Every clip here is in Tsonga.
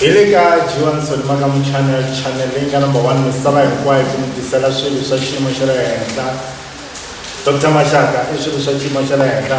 hi le ka johanson makamu channel channel leyi nga number one misava hinkwayo ku mi tisela swilo swa xiyimo xa le henhla dr maxaka i swilo swa xiyimo xa le henhla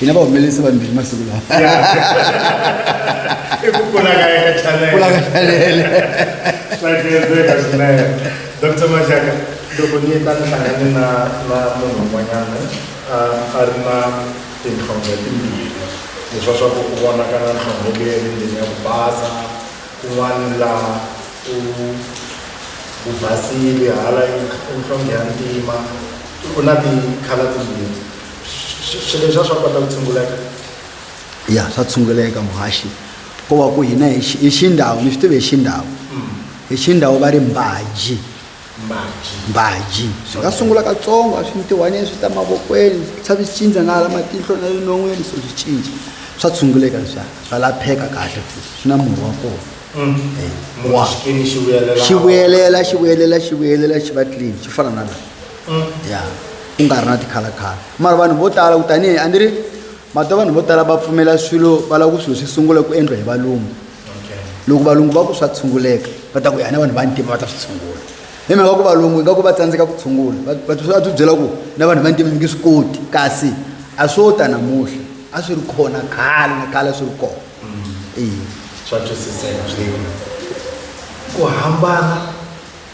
hina vahumelerisi vambirhi masiku lawa i ku kula ka eka chanelekula ka chanele swa kenzeka swinene dr maxaka loko ni ta ni hlangane na na munhu un'wanyana a ri na tinhlonge timbirhi leswa swa ku ku vona ka na nhlonge leyi ri ndleni ya ku basa kun'wana laha u ku basile hala inhlonge ya ntima ku na tikhala timbirhi swilo leswi a swa kota ku tshunguleka ya swa tshunguleka muhaxi ko va ku hina hi xi- hi xindhawu ni swi tive hi xindhawu hi xindhawu va ri mbaji mbaji mbaji swi nga sungula katsongo a swi ntiwanyeni swi ta mavokweni swa swi cinca na hala matihlo na le non'weni so swi cinca swa tshunguleka leswiya swa lapheka kahle futhi swi na murhi wa kona Eh, munhu wa- xikini xi vuyelela xi vuyelela xi vuyelela xi vuyelela xi va clean xi fana na laha ya ku nga ri na tikhalakhala mara vanhu vo tala ku tanihi a ni ri mati vanhu vo tala va pfumela swilo va lava ku swilo swi sungula ku endliwa hi valungu loko valungu va ku swa tshunguleka va ta ku yana vanhu va ntima va ta swi tshungula hi mhaka ku valungu ingaku va tsandzeka ku tshungula va byi byela ku na vanhu va ntima mi nge swi koti kasi a swo ta namuhla a swi ri khona khale na khale a swi ri kona mm. swa twisiseka ku hambana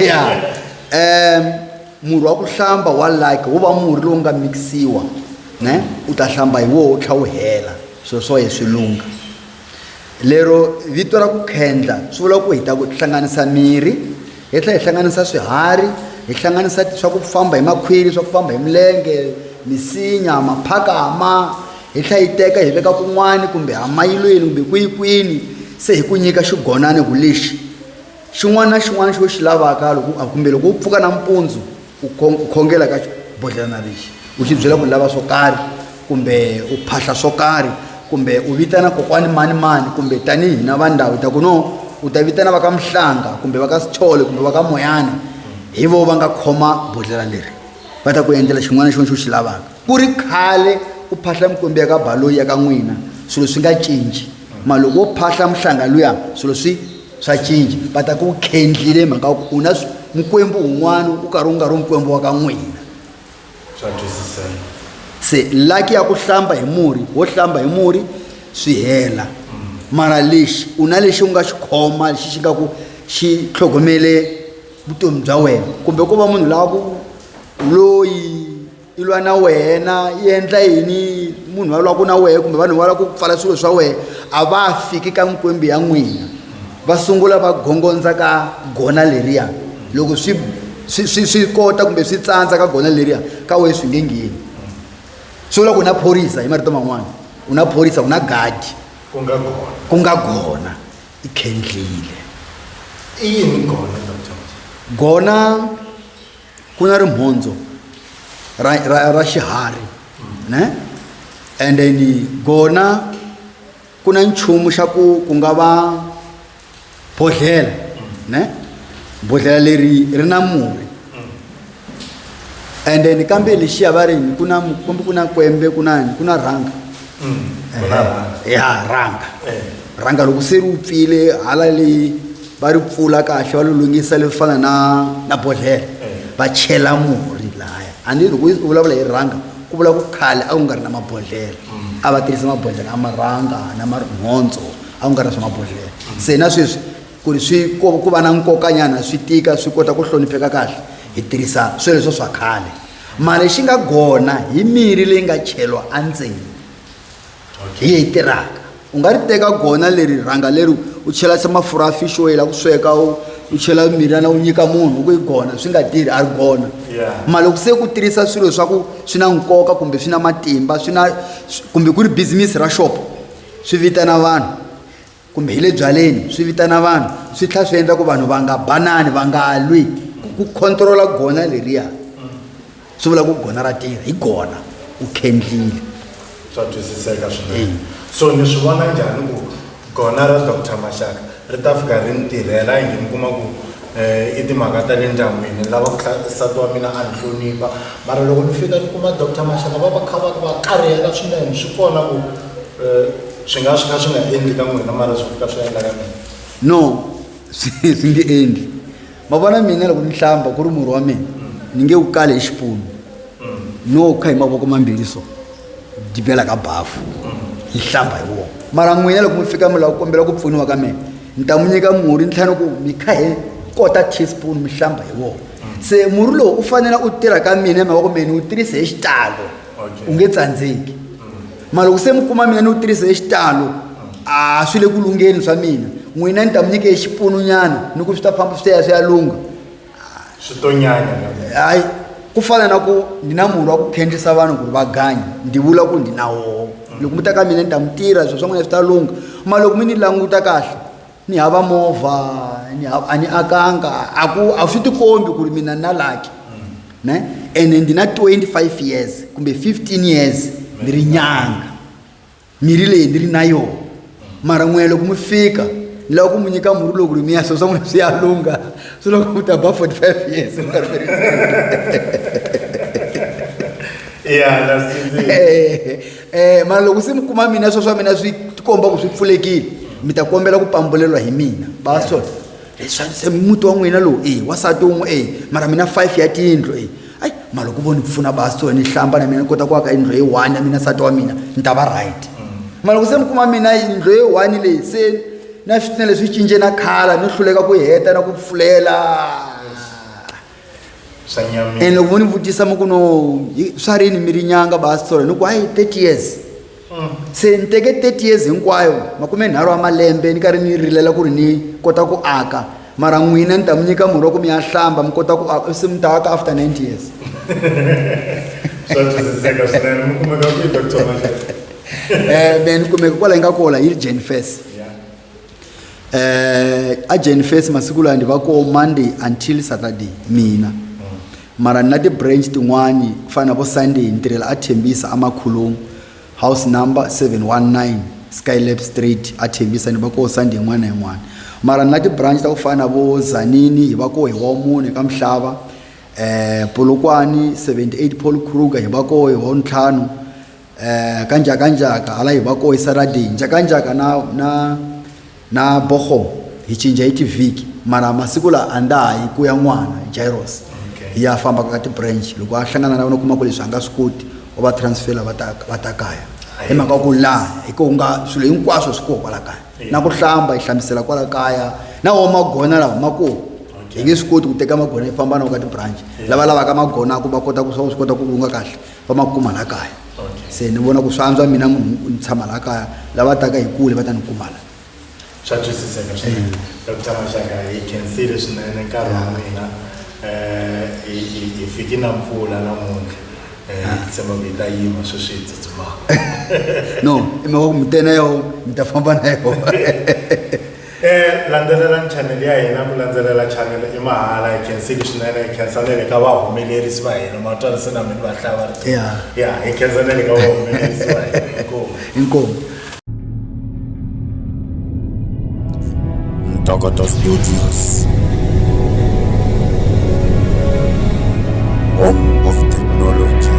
ya um murhi wa ku hlamba wa like wu va murhi lowu nga mikisiwa ne u ta hlamba hi woho tlha wu hela swilo swa ye swi lungha lero vito ra ku khendla swi vula ku hi ta ku hlanganisa mirhi hi tlhela hi hlanganisa swiharhi hi hlanganisa swa ku famba hi makhwiri swa ku famba hi milenge misinya maphakama Hi tlhela hi teka hi veka kun'wana kumbe hamayilweni kumbe kwihi-kwini se hi ku nyika xigonani ku lexi xin'wana na xin'wana xo xi lavaka loko kumbe loko u pfuka nampundzu u khongela ka bodlhelana lexi u xi byela ku lava swo karhi kumbe u phahla swo karhi kumbe u vitana kokwani mani mani kumbe tanihi na va ndhawu ta ku no u ta vitana va ka muhlanga kumbe va ka sithole kumbe va ka moyana hi vo va nga khoma bodlela leri va ta ku endlela xin'wana na xin'wana xo xi lavaka ku ri khale u phahla mikwembu ya ka baloyi ya ka n'wina swilo swi nga cinci ma loko wo phahla muhlanga luya swilo swi swa cinci va ta ku khendlile mhaka ku u na mikwembu un'wana u karhi u nga ri mikwembu wa ka n'wina swa twisiseka se laki ya ku hlamba hi murhi wo hlamba hi murhi swi hela mara lexi u na lexi u nga xi khoma lexi xi nga ku xi tlhogomele vutomi bya wena kumbe ko va munhu lava ku loyi yi lwa na wena yi endla yini munhu va lwaku na wehe kumbe vanhu va lava ku pfala swilo swa wehe a va fiki ka mikwembu ya n'wina va sungula va gongondza ka gona leriya loko swi swi swi swi kota kumbe swi tsandza ka gona leriya ka wehe swi nge ngheni swi vula ku na phorisa hi marito man'wana u na phorisa u na gadi ku nga gona ku nga gona i khendlile i yini gona gona ku na rimhondzo ra, ra, ra xiharhi ne and then gona ku na nchumu xa ku ku nga va bodhlela ne bodhlela leri ri na murhi and then kambe lexiya va ri yini ku na kumbe ku na kwembe ku na yini ku na rhanga ya rhanga rhanga loko se ri pfile hala leyi va ri pfula kahle va lulungisa leswi fana na na bodlhela va chela murhi laya a ni loko u vulavula hi rhanga ku vula ku khale a ku nga ri na mabodlhela a va tirhisa mabodlhela a marhanga na marihondzo a ku nga ri na swa mabodlhela se na sweswi ku ri swi ku va na nkokanyana swi tika swi kota ku hlonipheka kahle hi tirhisa sweleswo swa khale mara lexi nga kona hi mirhi leyi nga cheriwa endzeni hi yi tirhaka u nga ri teka kona leri rhanga leri u chela se mafurha ya fish oil a ku sweka u u chela mirhana u nyika munhu ku yi kona swi nga tirhi a ri kona mara loko se ku tirhisa swilo swa ku swi na nkoka kumbe swi na matimba swi na kumbe ku ri business ra shop swi vitana vanhu kumbe hi le byaleni swi vitana vanhu swi tlhela swi endla ku vanhu va nga banani va nga lwi ku controla gona leriya swi vula ku gona ra tirha hi gona u khendlile swa twisiseka swinene so ni swi vona njhani ku gona ra doctor maxaka ri ta fika ri ni tirhela yini mi kuma ku um i timhaka ta le ndyangwini lava ku nsati wa mina a ni hlonipha mara loko ni fika ni kuma doctor maxaka va va kha va va karihela swinene swi kona ku um swi nga swi kha swi nga endli ka n'wina mara swi fika swi endla ka mina no swi swi nge endli ma vona mina loko ni hlamba ku ri murhi wa mina ni nge wu kale hi xipunu no kha hi mavoko mambirhi so dibela ka bafu hi hlamba hi wona mara n'wina loko mi fika mi lava ku kombela ku pfuniwa ka mina ni ta mi nyika murhi ni tlhela ni ku mi kha hi kota teaspoon mi hlamba hi wona se murhi lowu u fanele u tirha ka mina hi mhaka ku mina ni wu tirhise hi xitalo u nge tsandzeki mara loko se mi kuma mina ni wu tirhisa hi xitalo a swi le ku lungheni swa mina n'wina ni ta mi nyike hi xipununyana ni ku swi ta famba swi ta ya swi ya lungha hayi ku fana na ku ndi na murhi wa ku khendlisa vanhu ku ri va ganya ndi vula ku ndi na woho loko mi ta ka mina ni ta mi tirha swilo swa n'wina swi ta lungha mara loko mi ni languta kahle ni hava movha ni hava a ni akanga a ku a swi tikombi ku ri mina na laki ne ene ndi na 25 years kumbe 15 years ni ri nyanga mirhi leyi ni ri na yona mara n'wina loko mi fika ni lava ku mi nyika murhi lowu ku ri mi ya swo swa n'wina swi ya lungha swi loko mi ta ba 45 years mi nga ri mi ri ya la swi um mara loko se mi kuma mina swa swa mina swi tikomba ku swi pfulekile mi ta kombela ku pambulelwa hi mina ba swa se muti wa n'wina lowu e wasati wun'we e mara mina five ya tiyindlu e ayi mara loko vo ni pfuna ba so ni hlamba na mina ni kota ku aka yindlu leyi one ya mina nsati wa mina ni ta va right mara loko se mi kuma mina yindlu leyi one leyi se na switina leswi cince na khala ni hluleka ku heta na ku pfulela ene loko mo ni vutisa mi ku no swa rini mi ri nyanga basitsolo ni ku hayi thirty years mm. se ni teke thirty years hinkwayo makume nharhu wa malembe ni karhi ni rilela ku ri ni kota ku aka mara n'wina ni ta mi nyika murhi wa ku mi ya hlamba mi kota ku aka se mi ta aka after ninety years um ni kumeka kwala yi nga kola yi ri jane fes eh agent face masiku lawa ndi va ko monday until saturday mina mara ni na ti-branch tin'wani ku fana na vo sunday ni tirhela a thembisa amakhulungu house number 719 skylab street a thembisa ni va koho sunday yin'wana na yin'wana mara ni na ti-branch ta ku fana na vo zanini hi va koho hi wa mune ka mihlava eh polokwani 78 paul kruger hi va koho hi wa ntlhanu eh ka njaka njaka hala hi va koisa radini njaka njaka na na na boho hi cinja hi tivhiki mara masiku lawa a nda ha yi ku ya n'wana jairos Okay. ya famba ka ti-branch loko a hlangana na vona u kuma ku leswi a nga swi koti u va transfela va ta va ta kaya hi mhaka ya ku laha hi ku nga swilo hinkwaswo swi koho kwala kaya Yeah. na ku hlamba hi hlambisela kwala kaya na wo magona lawa ma koho hi nge swi koti ku teka magona hi famba na wo ka ti-branch lava lavaka magona ku va kota ku swa swi kota ku lunga kahle va ma kuma laha kaya se ni vona ku swi antswa mina munhu ni tshama laha kaya lava taka hi kule va ta ni kuma laha swa twisiseka swinene dr maxaka hi khensile swinene nkarhi wa mina um hi fiki na mpfula namuntlha um tshemba ku yi ta yima sweswi hi tsutsumaka no i mhaka ku mi tena yo mi ta famba na yona Eh, landzelelani channel ya hina ku landzelela channel i mahala hi khensile swinene hi khensa na le ka vahumelerisi va hina matwani se na mi va hlaya va ri Yeah. ya hi khensa na le ka vahumelerisi va hina inkomu inkomu Ntokoto Studios. Home of technology.